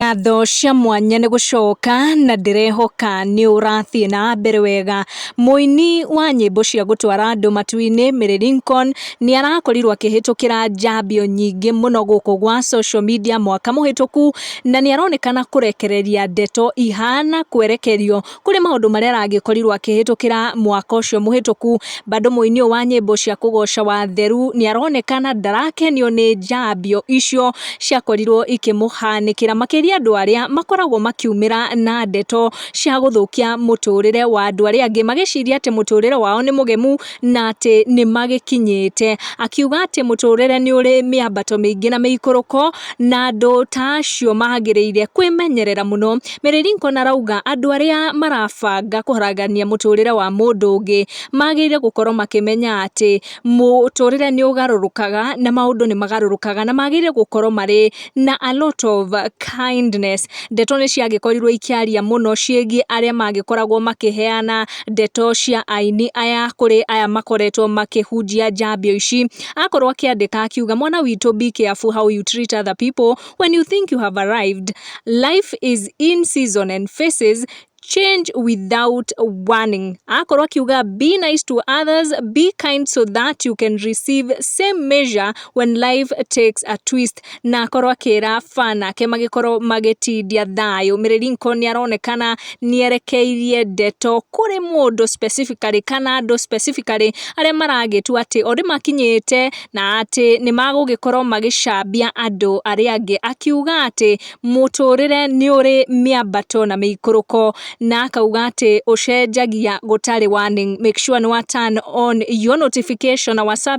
Ngatho cia mwanya nĩ gũcoka na ndĩrehoka nĩ ũrathiĩ na mbere wega. Mũini wa nyĩmbo cia gũtwara andũ matu-inĩ Mary Lincoln nĩ arakorirwo akĩhĩtũkĩra njambio nyingĩ mũno gũkũ gwa social media mwaka mũhĩtũku na nĩ aronekana kũrekereria ndeto ihana kwerekerio. kũrĩ maũndũ marĩa aragĩkorirwo akĩhĩtũkĩra mwaka ũcio mũhĩtũku, bado mũini ũyũ wa nyĩmbo cia kũgoca Watheru nĩaronekana ndarakenio nĩ njambio icio ciakorirwo ikĩmũhanĩkĩra, makĩria andũ arĩa makoragwo makiumĩra na ndeto cia gũthũkia mũtũrĩre wa andũ arĩa angĩ, magĩciria atĩ mũtũrĩre wao nĩ mũgemu. na atĩ nĩ magĩkinyĩte. Akiuga atĩ mũtũrĩre nĩ ũrĩ mĩambato mĩingĩ na mĩikũrũko, na andũ ta acio magĩrĩire kwĩmenyerera mũno. Mary Lincoln arauga andũ arĩa marabanga kũharagania mũtũrĩre wa mũndũ ũngĩ, magĩrĩire gũkorwo makĩmenya atĩ mũtũrĩre nĩ ũgarũrũkaga, na maũndũ nĩ magarũrũkaga, na magĩrĩire gũkorwo marĩ na a lot of kindness. Ndeto nĩ ciagĩkorirwo ikĩaria mũno ciĩgiĩ arĩa magĩkoragwo makĩheana ndeto cia aini aya kũrĩ aya makoretwo makĩhunjia njambio ici. Akorwo akĩandĩka akiuga mwana witũ be careful how you treat other people when you think you have arrived. Life is in season and faces change without warning akorwo akiuga be nice to others be kind so that you can receive same measure when life takes a twist na akorwo akĩra ba nake magĩkorwo magĩtindia thayũ mĩrĩringo nĩ aronekana nĩ erekeirie ndeto kũrĩ mũndũ specifically kana andũ specifically arĩa maragĩtua atĩ o nĩmakinyĩte na atĩ nĩmagũgĩkorwo magĩcambia andũ arĩa angĩ akiuga atĩ mũtũrĩre nĩ ũrĩ mĩambato na mĩikũrũko, na akauga atĩ ũcenjagia gũtarĩ warning. Make sure nĩ wa turn on your notification na wa sub.